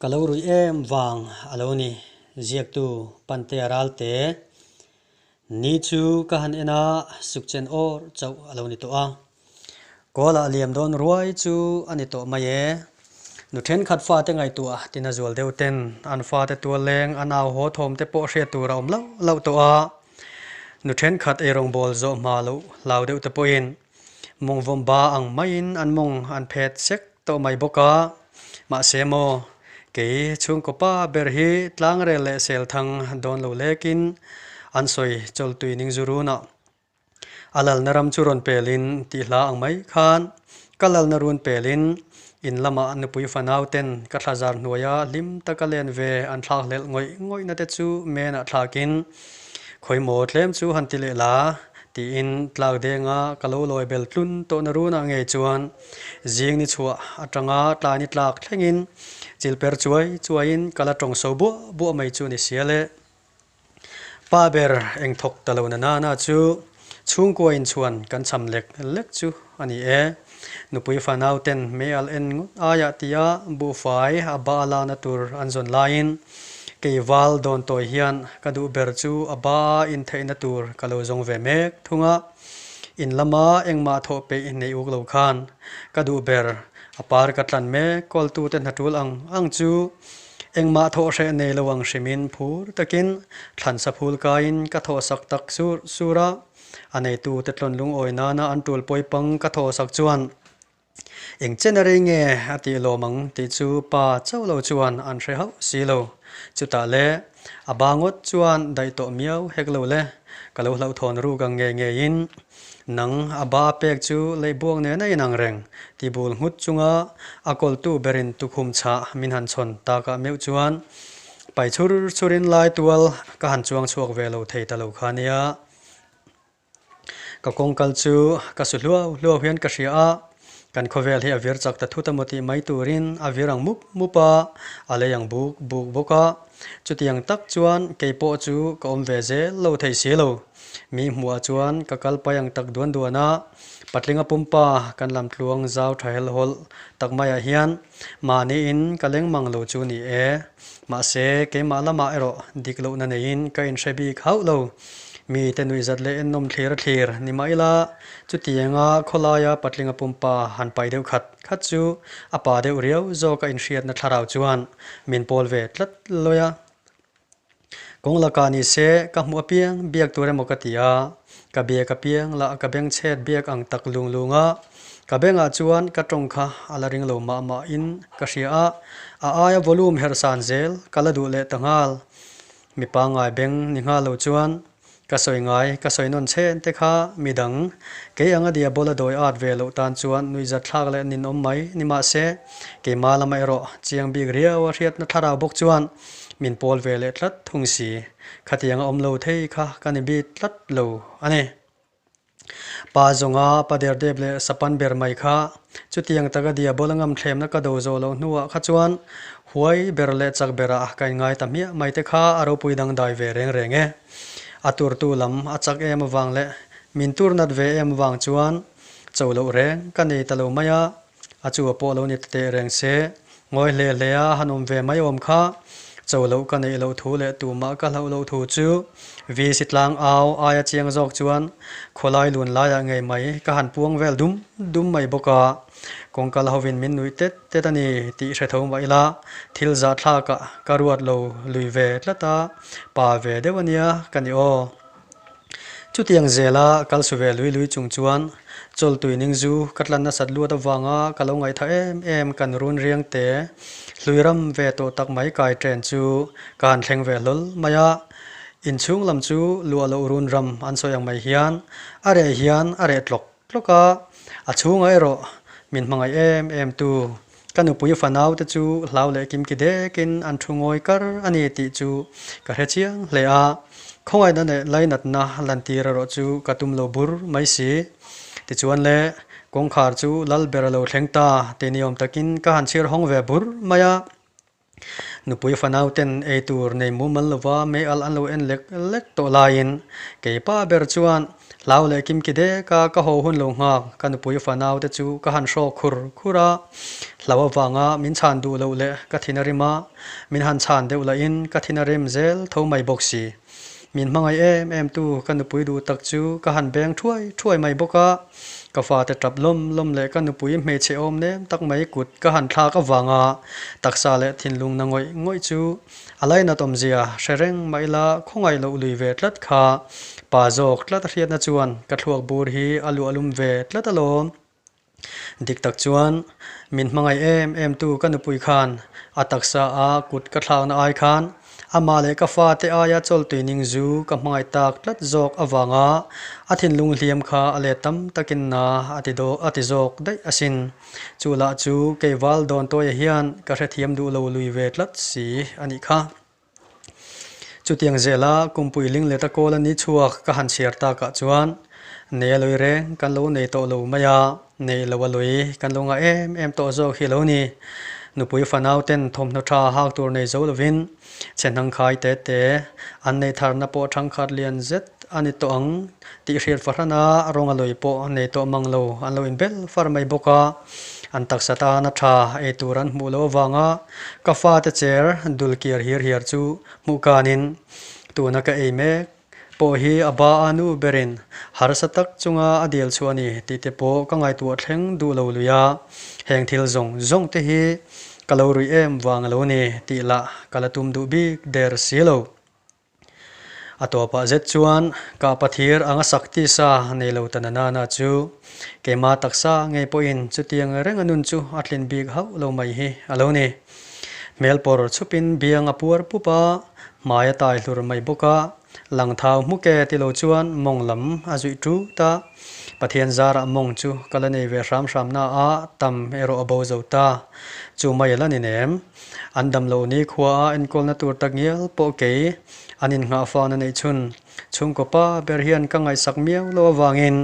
Ka lo ruih em vang a lo ni. Ziaktu Pante a ral te. Ni chu ka han en a, sukchen awr chauh a lo ni tawh a. Kawla a liam dawn ruai chu a ni tawh mai e. Nu thenkhat fate ngaihtuah tina zual deuh ten an fate tualleng, a nau haw thawm te pawh hriat tur a awm loh loh tawh a. Nu thenkhat eirawng bawl zawh hma loh hlau deuh te pawhin mawng vawmba ang maiin an mawng an phet sek tawh mai bawk a. Mahse maw, kei chhungkawpa ber hi tlangrel leh selthang dawn lo lekin an sawi chawltui ning zu runah A lalna ram chu rawn pelin tih hla ang mai khan ka lalna run pelin in lamah nupui fanau ten ka thla zar hnuaia hlim taka len ve an thlak hlelh ngawih ngawihna te chu menah thlakin khawi maw tlem chu han ti leh la tiin tlak denga ka lo lawi bel tlun tawhna runah ngei chuan zing ni chhuah atanga tlai ni tlak thlengin chilper chuai chuaiin ka la tawngsaw buah buah mai chu ni sia le. Pa ber eng thawk ta lo na nana chu chhungkua in chuan kan cham lek lek chu a ni e. Nupui fa nauten hmeal en ngut aiah tia buhfai a ba la na tur an zawn laiin kei val dawn tawi hian ka duh ber chu a ba a intheih na tur ka lo zawng ve mek thung a. In lama engmah thawh peih nei uk lo khan ka duh ber a par ka tlan mek kawltute hnatul ang ang chu Engmah thawh hreh nei lo ang hrimin phur takin thlansa phul kaiin ka thawh sak tak sur sur a, a neitute tlawn lungawi nana an tul pawi pang ka thawh sak chuan Eng chen a rei nge a tih lawm ang tih chu pa chauh lo chuan an hre hauh si lo. Chutah le a bangawt chuan daih tawh miau hek lo le, ka lo hlauhthawn ruk ang nge ngeiin. Nang a ba a pek chu lei buang nena in ang reng. Tibul nghut chunga a kawltu berin tukhum chhah min han chhawn takah meuh chuan pai chhur chhur in lai tual ka han chuang chhuak ve lo thei ta lo kha nia. Ka kawngkal chu ka su hluau hluau hian ka hria a. Kan khawvel hi a vir chak ta thut a maw tih mai turin a vir ang mup mup a, a lei ang buk buk bawk a. Chutiang tak chuan kei pawh chu ka awm ve zel lo thei si lo. Mi hmuhah chuan ka kal pai ang tak duan duan a. Patlinga pumpa kan lamtluang zau tha hel hawlh tak maiah hian mahniin ka leng mang lo chu ni e. Mahse, keimah lamah erawh dik lohna neiin ka inhre bik hauh lo. Mite nuihzat leh ennawm thlira thlir ni mah ila, chutianga khawlaia patlinga pumpa han pai deuh khat khat chu a pa deuh riau zawka inhriatna thlarau chuan min pawl ve tlat lawih a. Kawng laka ni se ka hmu apiang biak tur emaw ka ti a, ka biak apiang lah ka beng chhet biak ang tak lung lunga ka bengah chuan ka tawng kha a la ring lo mah mah in ka hria a, a aia volume herh san zel ka la duh leh ta nghal. Mi pangngai beng ni nghal lo chuan ka sawi ngai, ka sawi nawn chhen te kha midang kei anga diabawla dawi at ve loh tan chuan nuihzat thlak leh nin awm mai, nimahse keimah lama erawh chiang bik riau a hriatna thlarau bawk chuan min pawl ve leh tlat thung si, khatianga awm lo thei kha ka ni bik tlat lo a ni. Pa zawnga pa derdep leh sapan ber mai kha. Chutiang taka dia bawla ngam thlemna ka do zawh loh hnuah kha chuan huai ber leh chak berah ka inngai ta hmiah mai te kha a ropui dangdai ve reng reng e. A turtu lam a chak em avang leh min tur nat ve em avang chuan cho loh reng ka nei ta lo mai a. A chu a pawh lo ni ta teh reng se. Ngawi hle hle a, han awm ve mai awm kha. Chaw loh ka neih loh thu leh tumah ka hloh loh thu chu VC tlang au ai a chiang zawk chuan khawlai lun laiah ngei mai ka han puang vel dum dum mai bawk a. Kawng kal hovin min nuih tet tet a ni tih hre tho mah ila thil zahthlakah ka ruat lo lui ve tlat a, pa ve deuh a nia ka ni aw. Chutiang zela kal su ve lui lui chung chuan chawl tuining zu ka tlan nasat luat avanga ka lo ngaithah em em kan run riang te hlui ram ve tawh tak mai kai chen chu ka han thleng ve hlawl mai a, inchhung lam chu luah loh run ram an sawi ang mai hian a reh hian a reh tlawk tlawk a, a chhunga erawh min hmangaih em em tu Ka nupui fa naute chu hlau leh kim ki dekin an thu ngawi kar a ni tih chu ka hre chiang hle a, khawngaihna leh lainatna lantir erawh chu ka tum lo bur mai si. Tichuan le, kawngkhar chu lal ber a lo thleng ta ti ni awm takin ka han chhir hawng ve bur mai a. Nupui fanauten ei tur nei mumal lova meal an lo en lek lek tawh laiin kei pa ber chuan hlau leh kimki deka ka haw hun lo nghak, ka nupui fanaute chu ka han hrawk khur khur a, hlau avanga min chhan duh loh leh ka thin a rim a, min han chhan deuh lahin ka thin a rim zel tho mai bawk si. Min hmangaih em em tu ka nupui duh tak chu ka han beng thuai thuai mai bawk a, ka fate tap lawm lawm leh ka nupui hmeichhe awm nem tak mai kut ka han thlak avanga taksa leh thinlung na ngawih ngawih chu a lai nat awmzia hre reng mah ila khawngaih loh lui ve tlat kha pa zawk tlat a hriatna chuan ka thluak bur hi a luahlum ve tlat alawm. Dik tak chuan min hmangaih em em tu ka nupui khan a taksa a kut ka thlakna ai khan ama leh ka fa te aia chawltuining zu ka hmangaih tak tlat zawk avanga a thinlung hliam kha a let tam takin na a ti daw a ti zawk daih asin. Chu lah chu kei val dawn tuaia hian ka hrethiam duh lo lui ve tlat si a nih kha. Chutiang zela kum puiling leta kawl a ni chhuak ka han chhiar takah chuan nei a lawi reng kan lo nei tawh lo mai a, nei lo a lawi kan lo ngah em em tawh zawk hi lo ni. Nupui fanauten thawmhnaw tha hak tur nei zo lovin chhe hnangkhai te te an nei tharna pawh thangkhat lian zet a ni tawh ang tih hriat fahran a, rawng a lawi pawh nei tawh mang lo an lo inbel far mai bawk a. An taksa tan a tha ei tur an hmuh loh avanga ka fate chair dul kiar hir hiar chu hmuh kanin tuna ka ei mek pawh hi a ba a nu berin harsa tak chunga a dil chhuah a ni tih te pawh ka ngaihtuah thleng duh lo lui a, heng thil zawng zawng te hi ka lo ruih em vang a lo ni tih lah ka la tum duh bik der si lo. A tawp ah zet chuan ka pathir anga sak tisa nei lo ta na nana chu keima taksa ngei pawh in chutiang reng a nun chu a tlin bik hauh lo mai hi a lo ni. Hmel pawr chhup in biang a puar pup a, hmai a tai hlur mai bawk a, lang thau hmuk e ti lo chuan mawng lam a zuih tut a, Pathian zar ah mawng chu ka la nei ve hram hram na a, tam erawh a bo zo ta, chu mai a la ni nem. An dam lo ni khua a enkawlna tur ta ngial pawh kei an innghahfan a neih chhun. Chhungkawpa ber hian ka ngaihsak miau lo avangin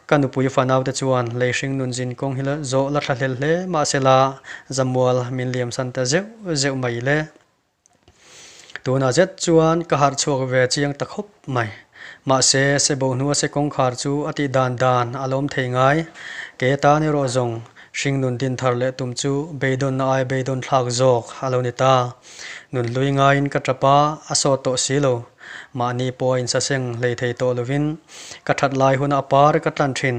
ka nupui fanaute chuan lei hring nun zin kawng hi la zawh la thlahlel hle mahsela zamual min liamsan ta zeuh zeuh mai le. Tunah zet chuan ka harh chhuak ve chiang ta khawp mai. Mahse, sebo hnua se kawngkhar chu a tih dan dan a la awm thei ngai. Ke tan erawh zawng hringnun din thar leh tum chu beidawnna ai beidawn thlak zawk a lo ni ta. Nun hlui ngaiin ka tap a, a sawt tawh si lo. Mahni pawh a insaseng hlei thei tawh lovin ka that lai huna a par ka tlan thin.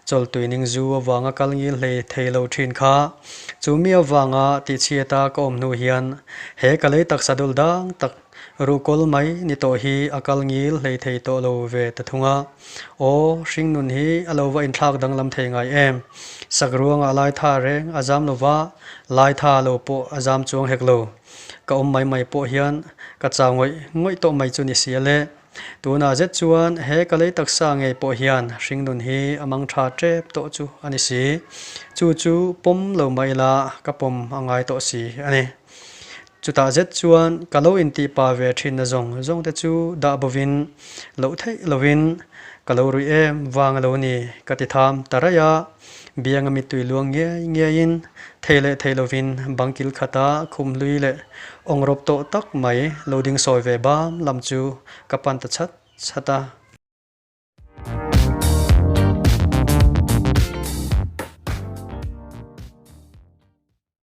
Chawltui ning zu avanga kal ngil hlei thei lo thin kha. Chu mi avanga tihchhiata ka awm hnu hian he ka lei taksa dul dang tak ruh kawl mai ni tawh hi a kal ngil hleithei tawh lo ve ta thung a. Aw, hringnun hi a lo va inthlak danglam thei ngai em! Sak ruangah Laitha reng a zam lova, Laitha lo pawh a zam chuang hek lo. Ka awm mai mai pawh hian ka chau ngawih ngawih tawh mai chu ni si aleh. Tunah zet chuan he ka lei taksa ngei pawh hian hringnun hi a mang tha tep tawh chu a ni si. Chu chu pawm lo mah ila ka pawm a ngai tawh si a ni. Chutah zet chuan ka lo intihpa ve thinna zawng zawng te chu dah bovin, loh theih lovin ka lo ruih em vang a lo ni ka ti tham ta raih a. Bianga mittui luang ngiai ngiaiin thei leh thei lovin bangkil khata khum hlui leh awng rawp tawh tak mai lo ding sawi ve bam lam chu ka pan ta chhat chhat a.